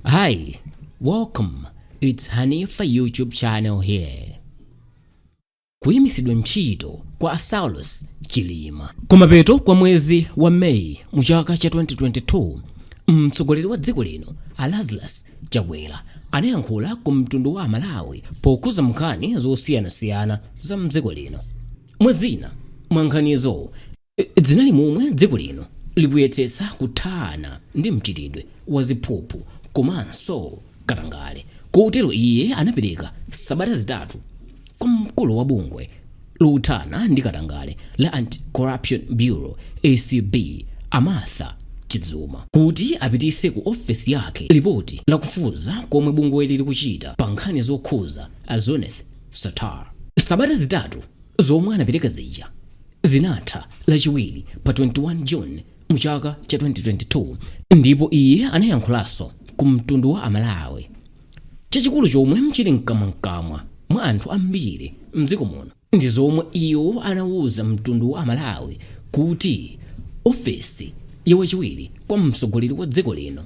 Hi, welcome. It's Hanifa YouTube channel here. Kuyimitsidwa ntchito kwa a Saulos Chilima. Kumapeto kwa mwezi wa Mei mu chaka cha 2022, mtsogoleri wa dziko lino a Lazarus Chakwera anayankhula ku mtundu wa a Malawi pokhuza nkhani zosiyanasiyana za mdziko lino. Mwazina mwa nkhanizo zinali momwe dziko lino likuyetsetsa kuthana ndi mchitidwe wa ziphuphu komanso katangale kotero iye anapereka sabata zitatu kwa mkulu wa bungwe lothana ndi katangale la Anti-Corruption Bureau, acb, a Martha Chizuma kuti apititse ku ofesi yake lipoti la kufufuza komwe bungweli likuchita pa nkhani zokhuza a Zuneth Sattar. Sabata zitatu zomwe anapereka zija Zinatha Lachiwiri pa 21 June mu chaka cha 2022 ndipo iye anayankhulaso ku mtundu wa a Malawi. Chachikulu chomwe chili mkamwa mkamwa mwa anthu ambiri mdziko muno ndi zomwe iwo anauza mtundu wa a Malawi kuti ofesi ya wachiwiri kwa mtsogoleri wa dziko lino,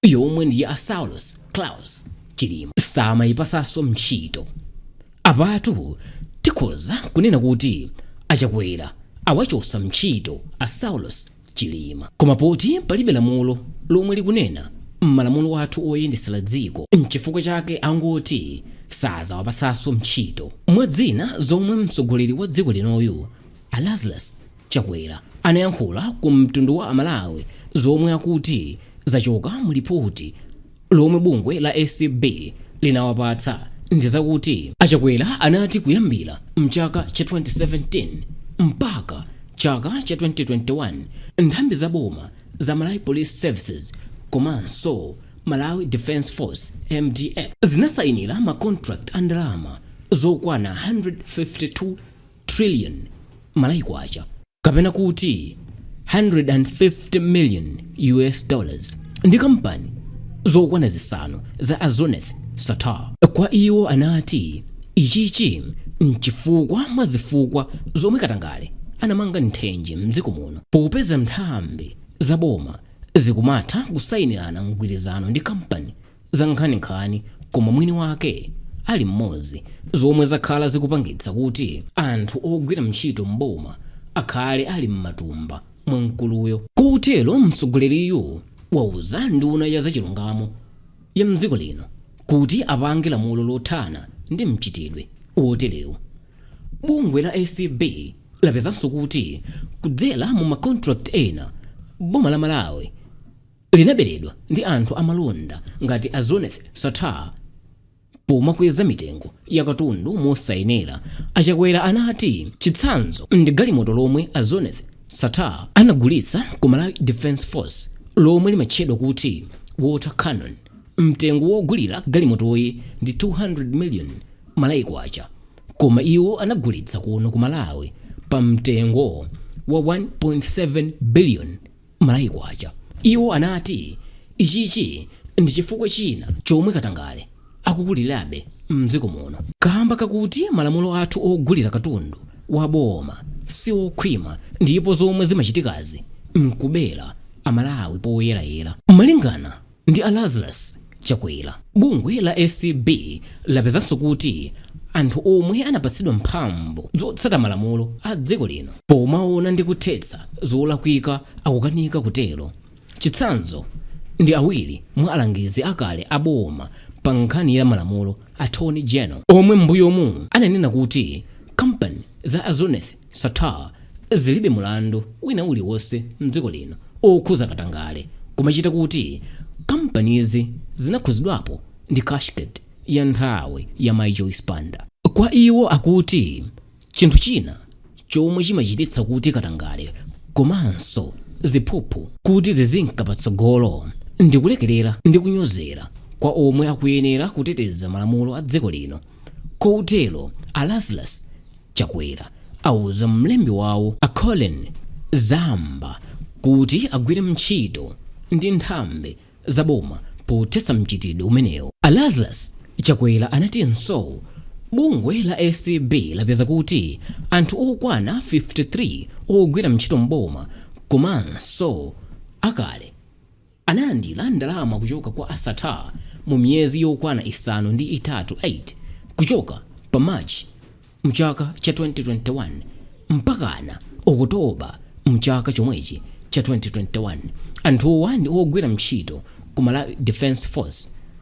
yomwe ndi ya a Saulos Klaus Chilima samayipasaso mtchito. Apatu tikhoza kunena kuti a Chakwera awachosa mtchito a Saulos Chilima. Koma poti palibe lamulo lomwe likunena mmalamulo athu oyendesera dziko mchifukwa chake angoti sazawapasaso mtchito. Mwazina zomwe mtsogoleri wa dziko linoyu a Lazarus Chakwera anayankhula ku mtundu wa aMalawi zomwe akuti zachoka mu lipoti lomwe bungwe la acb linawapatsa ndi zakuti. A Chakwera anati kuyambira mchaka cha 2017 mpaka chaka cha 2021 nthambi za boma za Malawi Police Services komanso Malawi Defence Force, mdf, zinasayinira ma contract a ndalama zokwana 152. trillion Malawi Kwacha kapena kuti 150 million US dollars ndi kampani zokwana zisanu za a Zuneth Sattar. Kwa iwo anati ichichi mchifukwa mwa zifukwa zomwe katangale anamanga nthenje mdziko muno popeza nthambi za boma zikumatha kusayinirana mgwirizano ndi kampani zankhaninkhani koma mwini wake ali mmodzi zomwe zakhala zikupangitsa kuti anthu ogwira mntchito m'boma akhale ali mmatumba mwa mkuluyo. Kotero mtsogoleriyu wauza nduna ya zachilungamo ya mdziko lino kuti apange lamulo lothana ndi mchitidwe woterewu. Bungwe la acb lapezanso kuti kudzera mu ma contract ena boma la Malawi, linaberedwa ndi anthu amalonda ngati a Zuneth Sattar pomakweza mitengo ya katundu mosayenera, a Chakwera anati chitsanzo ndi galimoto lomwe a Zuneth Sattar anagulitsa ku Malawi Defence Force lomwe limatchedwa kuti Water Cannon, mtengo wogulira galimotoyi ndi 200 million Malawi Kwacha koma iwo anagulitsa kuno ku Malawi pa mtengo wa 1.7 billion. Malawi Kwacha. Iwo anati ichichi ndi chifukwa china chomwe katangale akukulirabe m'dziko muno kaamba kakuti malamulo athu ogulira katundu wa boma si okhwima ndipo zomwe zimachitikazi n'kubera Amalawi poyerayera. Malingana ndi a lazarus chakwera bungwe la acb lapezanso kuti anthu omwe anapatsidwa mphamvu zotsata malamulo a dziko lino pomaona ndi kuthetsa zolakwika akukanika kutero chitsanzo ndi awiri mwa alangizi akale a boma pa nkhani ya malamulo attorney general omwe m'mbuyomu ananena kuti kampani za a zuneth Sattar zilibe mulandu wina uliwonse mdziko lino okhudza katangale kumachita kuti kampanizi zinakhudzidwapo ndi cashgate ya nthawi ya mai Joyce Banda. Kwa iwo akuti chinthu china chomwe chimachititsa kuti katangale komanso ziphuphu kuti zizinka patsogolo ndikulekerera ndi kunyozera kwa omwe akuyenera kuteteza malamulo a dziko lino. Kotero a Lazarus Chakwera auza mlembi wawo a Colleen Zamba kuti agwire ntchito ndi nthambi za boma pothetsa mchitidwe umenewu. A Lazarus Chakwera anatinso bungwe la acb lapeza kuti anthu okwana 53 ogwira ntchito m'boma komanso akale, Analandira ndalama kuchoka kwa a Sattar mu miyezi yokwana isanu ndi itatu 8, kuchoka pa March mchaka cha 2021 mpakana October mchaka chomwechi cha 2021. Anthuwa ndi ogwira ntchito ku Malawi Defence Force.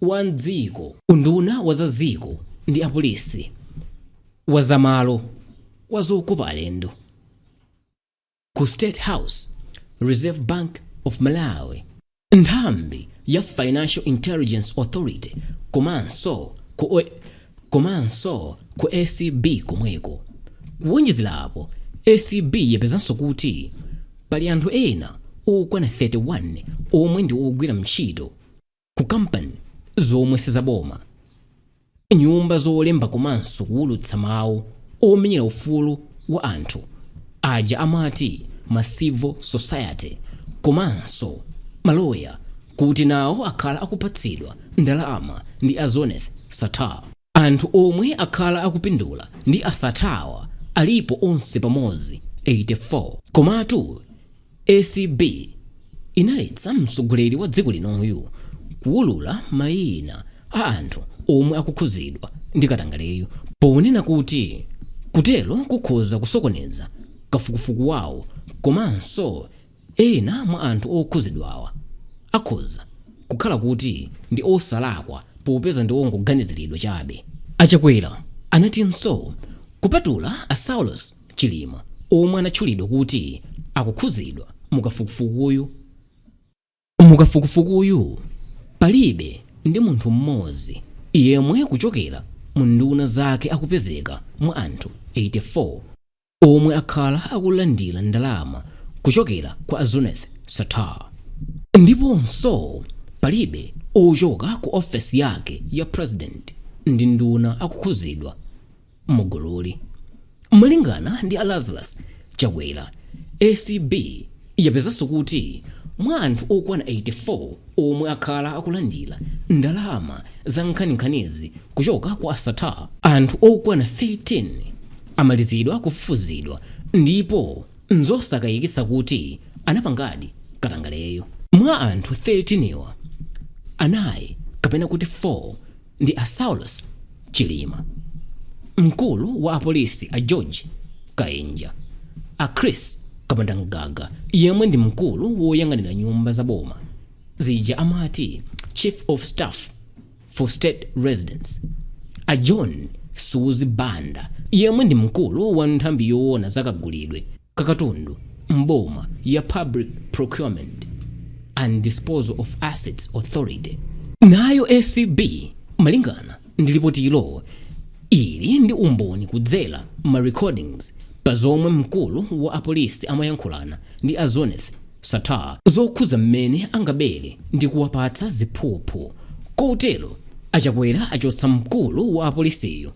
wa m'dziko, unduna wa za dziko ndi apolisi, wa za malo, wa zokopa alendo, ku State House, Reserve Bank of Malawi, nthambi ya Financial Intelligence Authority komanso ku acb komweko. Kuwonjezera apo, acb yapezanso kuti pali anthu ena okwana 31 omwe ndi ogwira ntchito. ku kampani zomwe sizaboma, nyumba zolemba komanso kuwulutsa mawu omenyera ufulu wa anthu aja amati ma civil society komanso maloya kuti nawo akhala akupatsidwa ndalama ndi a Zuneth Sattar. Anthu omwe akhala akupindula ndi a Sattar-wa alipo onse pamodzi 84. Komatu acb inaletsa mtsogoleri wa dziko linoyu kuwulula mayina a anthu omwe akukhudzidwa ndi katangaleyu ponena kuti kutero kukhoza kusokoneza kafukufuku wawo komanso Ena mwa anthu okhuzidwawa akhoza kukhala kuti ndi osalakwa popeza ndi ongoganiziridwa chabe. A Chakwera anatinso kupatula a Saulos Chilima omwe anatchulidwa kuti akukhuzidwa mu kafukufukuyu, Mukafukufukuyu palibe ndi munthu mmodzi yemwe kuchokera mu nduna zake akupezeka mwa anthu 84 omwe akhala akulandira ndalama kuchokera kwa a Zuneth Sattar. Ndiponso palibe ochoka ku ofesi yake ya President ndi nduna akukhudzidwa. mugululi. Malingana ndi a Lazarus Chakwera, acb yapezanso kuti mwa anthu okwana 84 omwe akhala akulandira ndalama za nkhaninkhanizi kuchoka kwa a Sattar, anthu okwana 13 amalizidwa kufufuzidwa ndipo nzosakayikitsa kuti anapangadi katangaleyu. Mwa anthu 13 wa, anayi kapena kuti 4, ndi a Saulos Chilima, mkulu wa apolisi a George Kainja, a Prince Kapondamgaga yemwe ndi mkulu woyang'anira nyumba za boma zija amati Chief of Staff for State Residences, a John Suzi Banda yemwe ndi mkulu wa nthambi yoona za kagulidwe kakatundu m'boma ya Public Procurement and Disposal of Assets Authority. Nayo acb malingana ndi lipotilo ili ndi umboni kudzera ma recordings pa zomwe mkulu wa apolisi amayankhulana ndi a Zuneth Sattar zokhuza mmene angabere ndi kuwapatsa ziphuphu kotero a Chakwera achotsa mkulu wa apolisiyo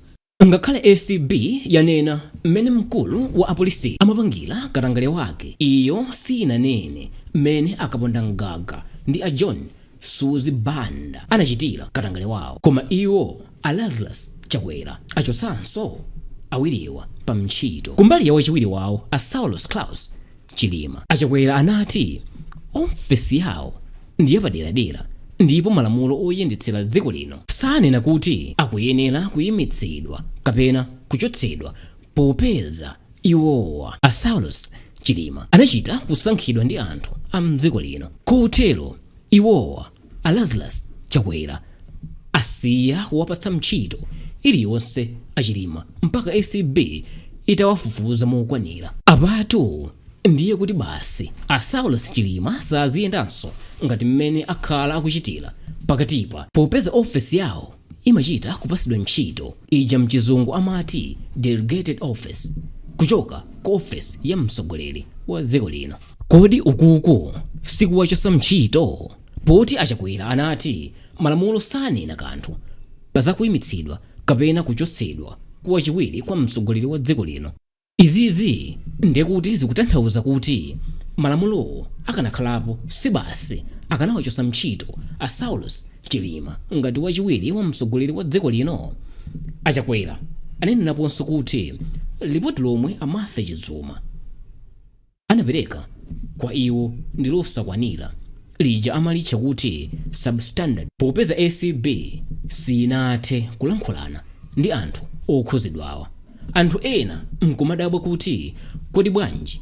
Ngakhale acb yanena mmene mkulu wa apolisiyu amapangira katangale wake, iyo siyinanene mmene a Kapondamgaga ndi a John Suzi Banda anachitira katangale wawo. Koma iwo, a Lazarus Chakwera, achotsanso awiriwa pa ntchito. Kumbali ya wachiwiri wawo, a Saulos Klaus, A Chakwera anati ofesi yawo ndi yapaderadera ndipo malamulo oyendetsera dziko lino sanena kuti akuyenera kuyimitsidwa kapena kuchotsedwa popeza iwowa, a Saulos Chilima, anachita kusankhidwa ndi anthu a m'dziko lino kotero iwowa a lazarus chakwera asiya kuwapatsa mtchito iliyonse achilima mpaka acb itawafufuza mokwanira apatu ndiye kuti basi a saulos chilima saziyendanso ngati mmene akhala akuchitira pakatipa popeza ofesi yawo imachita kupatsidwa ntchito ija mchizungu amati delegated office kuchoka ku ofesi ya mtsogoleri wa dziko lino. Kodi ukuku sikuwachosa mtchito? Poti a Chakwera anati malamulo sanena kanthu pa za kuimitsidwa kapena kuchotsedwa kwa wachiwiri kwa mtsogoleri wa dziko lino. Izizi ndiye kuti zikutanthauza kuti malamulowo akanakhalapo si basi akanawachotsa mtchito a Saulos Chilima ngati wachiwiri wa mtsogoleri wa dziko lino? A Chakwera anenaponso kuti lipoti lomwe a Martha Chizuma, anapereka kwa iwo ndi losakwanira, lija amalitcha kuti substandard, popeza acb siyinathe kulankhulana ndi anthu okhuzidwawa. Anthu ena nkumadabwa kuti kodi bwanji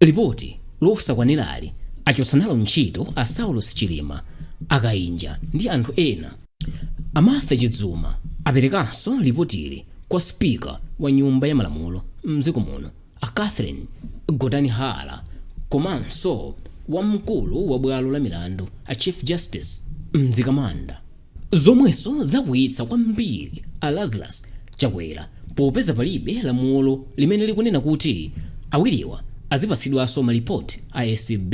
lipoti losakwanirali achotsa nalo ntchito a Saulos Chilima, a Kainja ndi anthu ena. A Martha Chizuma aperekanso lipotili kwa Speaker wa Nyumba ya Malamulo mdziko muno. A Catherine Gotani Hara komanso wamkulu wa bwalo la milandu a Chief Justice Mzikamanda zomwenso zakwiyitsa kwambiri a Lazarus Chakwera popeza palibe lamulo limene likunena kuti awiriwa azipatsidwanso malipoti a acb.